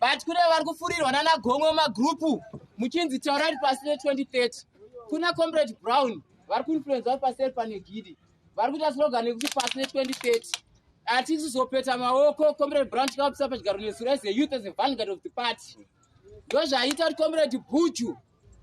but kune vari kufurirwa nana gomwe magrupu muchinzi taurari pasi ne 2030 kuna comrade brown vari kuinfluenza vari paseri pane gidi vari kuita slogan yekuti pasi ne 2030 atisi zopeta maoko comrade brown tikavapisa pachigaro nesu as a youth as a vanguard of the party ndozvaita kuti comrade buju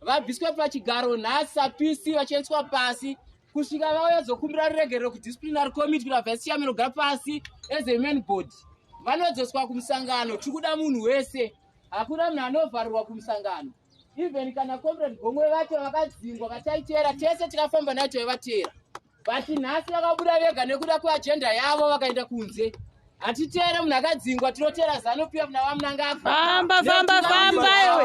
vabviswe pachigaro nhasi sapisi vachiendeswa pasi kusvika vauya dzokumbira ruregerero kudisciplinary committe kuti vabva sichamen ogara pasi as a man body vanodzoswa kumusangano tiri kuda munhu wese hakuna munhu anovharirwa kumusangano even kana comrade gomwe vacho vakadzingwa vataiteera tese tikafamba nayo taivateera but nhasi vakabuda vega nekuda kweagenda yavo vakaenda kunze hatitere munhu akadzingwa tinotera zano piwa muna vamunangafamba famba famba iwe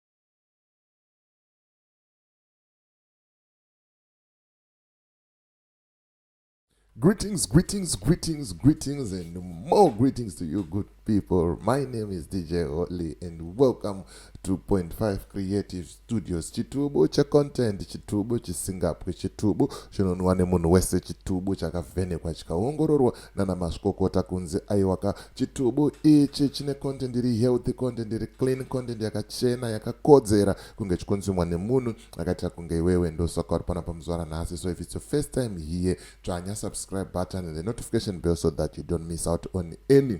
Greetings, greetings, greetings, greetings, and more greetings to you, good people. My name is DJ Oli, and welcome to Point Five Creative Studios. Chitubu cha content, chitubu chisingapwe, chitubu chinonwa nemunhu wese, chitubu chakavhenekwa chikaongororwa nana mazvikokota kunzi aiwaka chitubu ichi chine content iri healthy content iri clean content yakachena yakakodzera kunge chikonzumwa nemunhu akaita kunge iwewe ndosaka uri pana pamuzvara nhasi so if it's your first time here tsvanya subscribe button and the notification bell so that you don't miss out on any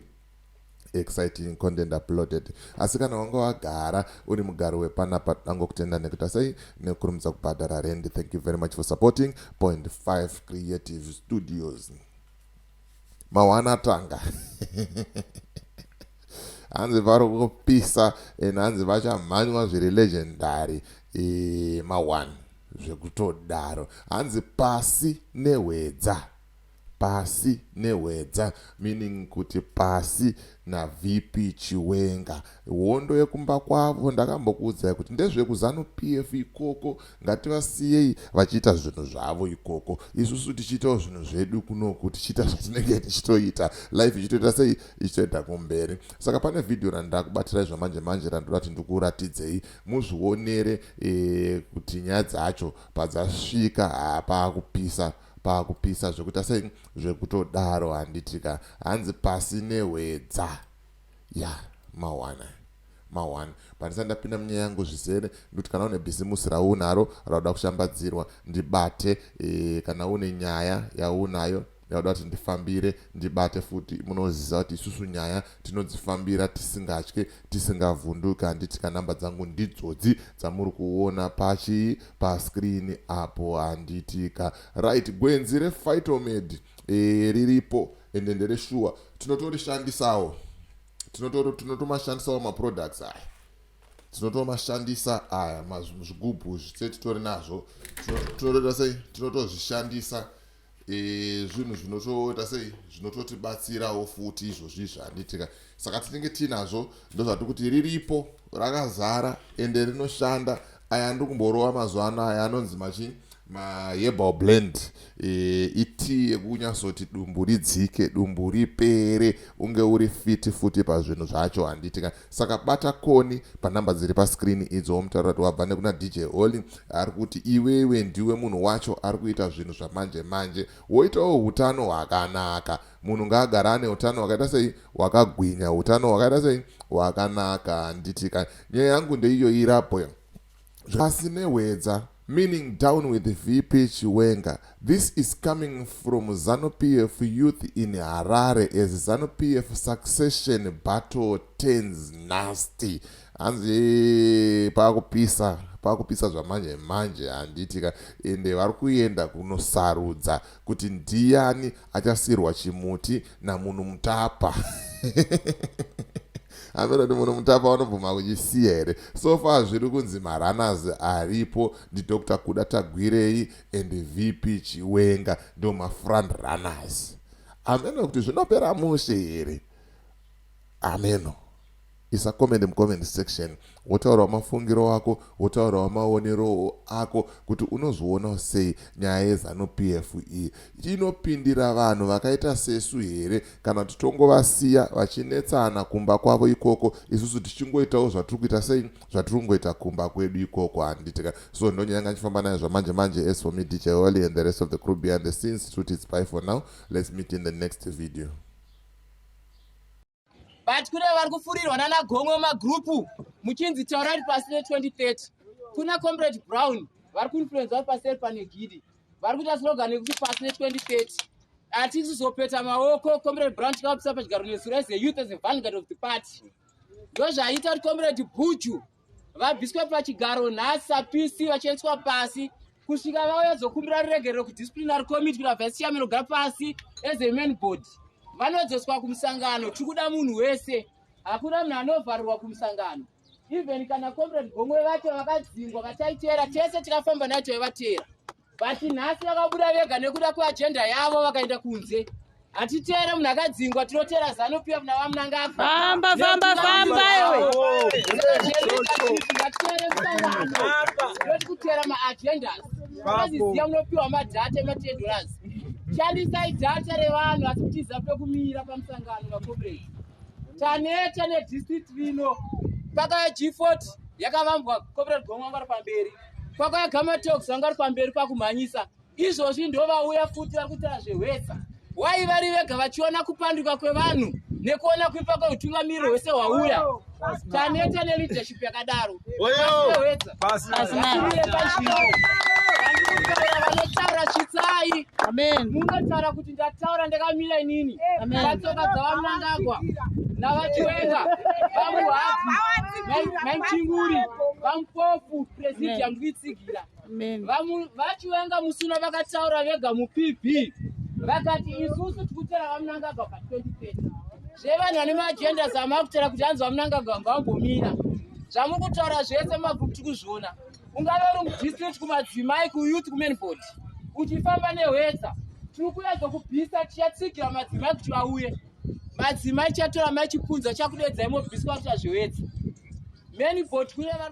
exciting content uploaded asi kana wanga wagara uri mugari wepanapa tangokutenda nekuita sei nekurumidza kubhadhara rendi thank you very much for supporting point 5 creative studios mawana tanga hanzi vari kupisa and hanzi vachamhanywa zviri legendary e, mawan zvekutodaro hanzi pasi nehwedza Pasi nehwedza meaning kuti pasi na VP Chiwenga. Hondo yekumba kwavo ndakambokuudzai kuti ndezveku Zanu PF ikoko ngativasiyei vachiita zvinhu zvavo ikoko isusu tichiitawo zvinhu zvedu kunoku tichiita zvatinenge tichitoita life ichitoita sei ichitoenda kumberi saka pane video randakubatirai zvamanje manje randoda kuti ndikuratidzei muzvionere ee kuti nyaya dzacho padzasvika haa paakupisa pakupisa zvekuita sei zvekutodaro handiti ka hanzi pasi nehwedza ya mawana mawana pandisati ndapinda munyaya yangu zvizere ndikuti kana une bhizimusi raunaro rauda kushambadzirwa ndibate e, kana une nyaya yaunayo yauda kuti ndifambire ndibate futi munoziva kuti isusu nyaya tinodzifambira tisingatye tisingavhunduke handiti ka number dzangu ndidzodzi dzamuri kuona pachii pascreen apo handiti ka right gwenzi refightomed e, riripo ende ndereshuwa tinotorishandisawo tinotomashandisawo maproducts aya tinotomashandisa aya zvigubhu zvitse titori nazvo tinotoita sei tinotozvishandisa e, zvinhu zvinotoita sei zvinototibatsirawo futi izvozvi zvanditika saka tinenge tiinazvo ndozvati kuti riripo rakazara ende rinoshanda aya andiri kumborova mazuva ano aya anonzi machi maherbal blend e, itii yekunyazoti dumbu ridzike dumbu ripere unge uri fiti futi pazvinhu zvacho handitika saka bata koni panumber dziri pascreen idzo womutaura kuti wabva nekuna dj holy ari kuti iwewe ndiwe munhu wacho ari kuita zvinhu zvamanje manje woitawo utano hwakanaka munhu ngaagara ane utano hwakaita sei hwakagwinya utano hwakaita sei hwakanaka handiti ka nyaya yangu ndeiyo irabhoyo Pasi nehwedza meaning down with VP Chiwenga. This is coming from ZanuPF youth in Harare as ZanuPF succession battle turns nasty. Hanzi pakupisa pakupisa zvamanje manje handiti ka ende vari kuenda kunosarudza kuti ndiyani achasirwa chimuti namunhu mutapa amira kuti munhu mutapa vanobvuma kuchisiya here so far zviri kunzi maranas aripo ndidr kuda tagwirei and vp chiwenga ndo mafront runners ameno kuti zvinopera mushe here ameno isa comment mucomment section wotaurawo mafungiro ako wotaurawo maonero ako kuti unozvionawo sei nyaya yezanu p f iyi inopindira vanhu vakaita sesu here kana kuti tongovasiya vachinetsana kumba kwavo ikoko isusu tichingoitawo zvatiri kuita sei zvatiri kungoita kumba kwedu ikoko handitika so ndonyaya yanga ndichifamba nayo zvamanje manje as for me dj holy and the rest of the crew behind the scenes tuti it's by for now let's meet in the next video but kune vari kufurirwa nana gomwe magrupu muchinzi taurari pasi ne 2030 kuna comrade brown vari kuinfluenza vari paseri pane gidi vari kuita slogan yekuti pasi ne 2030 hatisi zopeta maoko comrade brown tikavapisa pachigaro nesu as a youth as a vanguard of the party ndozvaita kuti comrade buju vabviswe pachigaro nhasi sapisi vachiendeswa pasi kusvika vauya dzokumbira ruregerero kudisciplinary committee kuna vice chairman ogara pasi as a man board vanodzoswa kumusangano tiri kuda munhu wese hakuna munhu anovharirwa kumusangano even kana comrade gomwe vacho vakadzingwa vataiteera tese tikafamba nayo taivateera but nhasi vakabuda vega nekuda kweagenda yavo vakaenda kunze hatitere munhu akadzingwa tinotera zano pf navamunangafamba famba famba iweati kutera maagendas aziziya munopiwa madhata ematendoras shandisai dhata revanhu asi kutiza pekumira pamusangano makomrade taneta nedistrict rino pakaya g40 yakavambwa comrade gomangwara pamberi kwakauya gamatox vanga vari pamberi pakumhanyisa izvozvi ndovauya futi vari kutaura zvehwesa wai vari vega vachiona kupanduka kwevanhu nekuona kuipa kweutungamiriro hwese hwauya taneta neleadership yakadaro vanotaura chitsai munotaura kuti ndataura ndakamira inini vatsoka dzavamnangagwa navachiwenga vamuhati maichinguri vamupofu presidium kuitsigira vachiwenga musuna vakataura vega mupb vakati isusu tikutera vamunangagwa pa 2030 zvevanhu vane maagenda zvamakutera kuti hanzi vamunangagwa ngavambomira zvamuri kutaura zvese mabvuku tikuzviona ungave uri mudistrict kumadzimai kuyouth kumenbod uchifamba nehwedza tiri kuya dzokubvisa tichatsigira madzimai kuti vauye madzimai chatora maichipunza chakudedzai mobviswa kuti azvihwedza menbod kuya vari